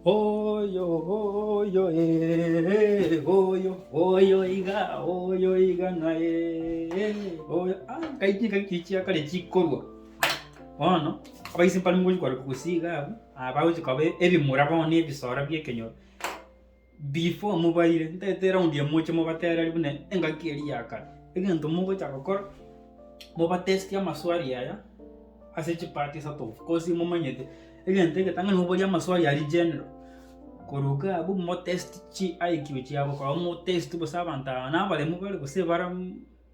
Oyo, oyo, ee, oyo, oyo iga, oyo iga ng'a ee, oyo. Ah, kaiti kaiti chiakare chikorwa. Bono, abaise mpare ngochi kore gosiga abwo, ah bagochi koba ebimura bono na ebisoro bia ekenyoro. Before mobaire, ntagete eraundi ya moche mobatereri buna engaki eria ya kare. Egento mogocha gokora, mobatestie amaswali aya ase chi part isato of course momanyete egento egetang'ani moborie amaswali aria general. Korwa iga abwo motesti chi IQ chiabo korwa motesti bosa abanto aba nabaremu bare gose bara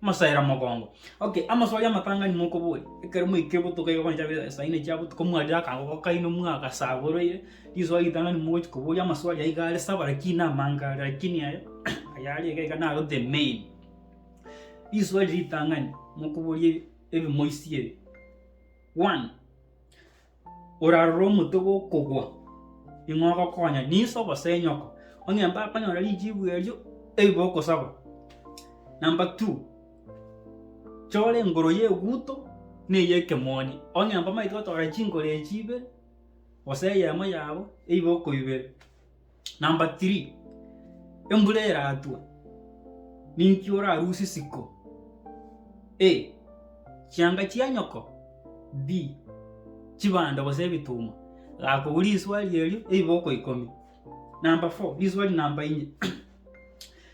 Mosaera mogongo. Okay, amaswali amatang'ani mokoboria, ekero mwaikire botuko iga goncha be saa ine chia botuko mwarire akagogo kaino mwagasaboreire, riswali ritang'ani mogochi koboria amaswali ayio iga are saba lakini namange are lakini aya aya are iga iga naro the main. Riswali ritang'ani mokoboria ebi ebimoisia ebi, one. orarore omonto gokogwa, ning'o ogokonya, niso gose inyoko? Onye mbakonyora richibu erio, ebi bokosaba. Number two, chora engoro y'eguto na ey'ekemooni. Onye mbamaete gotora chingoro echi ibere, gose eyemo yabo, ebi bokoibera. Number three, embura eratwe, ninki orarusie isiko? A, chianga chia nyoko, B, chibando gose ebituma. Gakobua riswali erio ebiboko ikomi. Number four, riswali namba inye,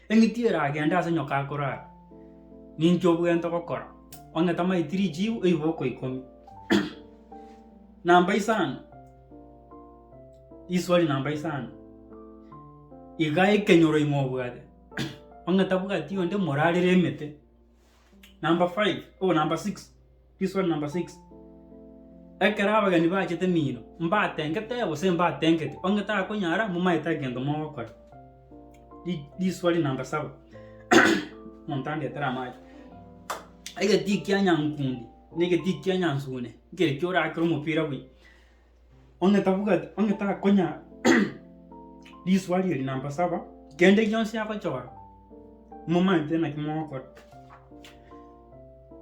eng'iti eragende ase nyoko akorara, ninki obwenerete gokora? Ong'e tamaeti richibu ebiboko ikomi. Namba isano. Riswali namba isano, iga ekenyoro ime obwate onye tabwati onde morarere emete. Namba five, oh namba six, riswali namba six, ekero abageni bachete mino, mbatengete gose mbatengeti? Onye takonyara momaete tari gento mogokora. Ri- riswali namba saba, omonto andetere amache, egeti ekianyankundi na egeti ekianyansugune, nkeri kia orakire omopira buya. onye tabuga onye takonya risuari eri namba saba, kende gionsi agochora momanyete naki mogokora.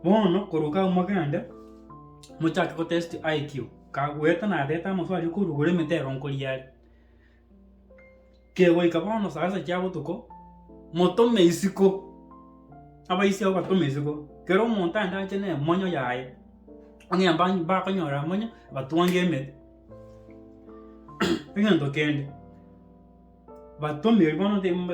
Bono korwa kau mogende, mochake gotest IQ, kagoeta nareta amaswali okoruga ore emetego nkoria are. kegoika bono saa sita chia botuko, motome isiko, abaise abwo batome isiko, kera omonto aende ache na emonyo yaye, onye mbany bakonyora emonyo, batwange emete. Egento kende, batome erio bono timbe.